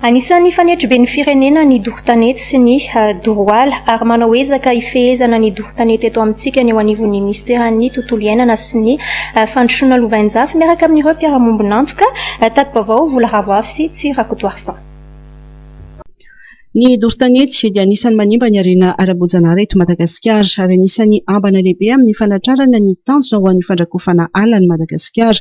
Anisan'ny fanetribe ny firenena ny doro tanety sy ny doroala ary manao ezaka hifehezana ny doro tanety eto amintsika ny eo anivon'ny Minisiteran'ny Tontolo iainana sy ny Fandrosoana Lovainjafy miaraka amin'ireo mpiara-mombon'antoka tati-baovao Vola Ravoavy sy Tsy Rakotoarison. Ny doro tanety dia anisan'ny manimba ny harena ara-boajanahary eto Madagasikara ary anisan'ny ambana lehibe amin'ny fanatrarana ny tanjona ho an'ny fandrakofana ala an'i Madagasikara.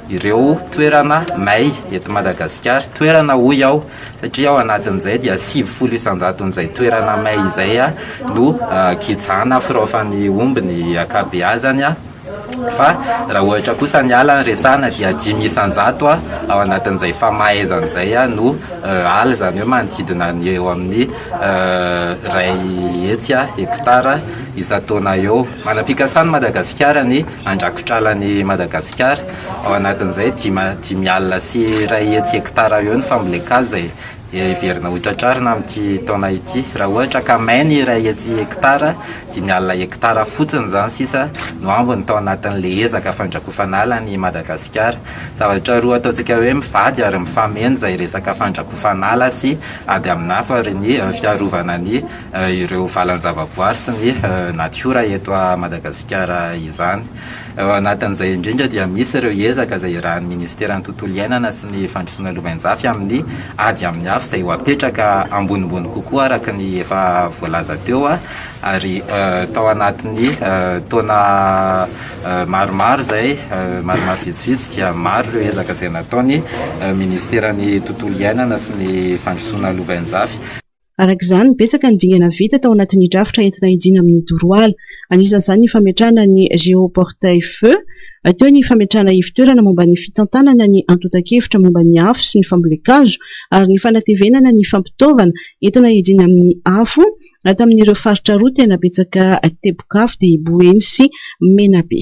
ireo toerana may eto Madagasikara, toerana hoy aho satria ao anatin'izay dia sivifolo isan-jaton'izay toerana may izay no gijana firaofan'ny omby ny ankabeazany fa raha ohatra kosa ny ala no resahana dia dimy isan-jato ao anatin'izay famahaizana izay no ala izany hoe manodidina ny eo amin'ny iray hetsy hektara isan-taona eo. Manam-pikasana i Madagasikara ny an-drakotralan'i Madagasikara. Ao anatin'izay dima, dimy alina sy iray hetsy hektara eo ny fambolen-kazo izay heverina ho tratrarina amin'ity taona ity. Raha ohatra ka may ny iray hetsy hektara, dimy alina hektara fotsiny izany sisa no ambiny tao anatin'ilay ezaka fandrakofan'ala an'i Madagasikara. Zavatra roa ataontsika hoe mivady ary mifameno izay resaka fandrakofan'ala sy ady amin'afo ary ny fiarovana ny ireo valan-javaboary sy ny natiora eto Madagasikara izany. Ao anatin'izay indrindra dia misy ireo ezaka izay irahan'ny Ministeran'ny Tontolo Iainana sy ny Fandrosoana Lovainjafy amin'ny ady amin'ny afo izay ho apetraka ambonimbony kokoa araka ny efa voalaza teo ary tao anatin'ny taona maromaro izay, maromaro vitsivitsy dia maro ireo ezaka izay nataon'ny Ministeran'ny Tontolo Iainana sy ny Fandrosoana Lovainjafy. Araka izany, betsaka ny dingana vita tao anatin'ny drafitra entina hidiana amin'ny doroala. Anisan'izany ny fametrahana ny géoportail-feu, teo ny fametrahana ivo-toerana momba ny fitantanana ny antontan-kevitra momba ny afo sy ny fambolen-kazo ary ny fanatevenana ny fampitaovana entina hidiana amin'ny afo tamin'ireo faritra roa tena betsaka teboka afo dia Boeny sy Menabe.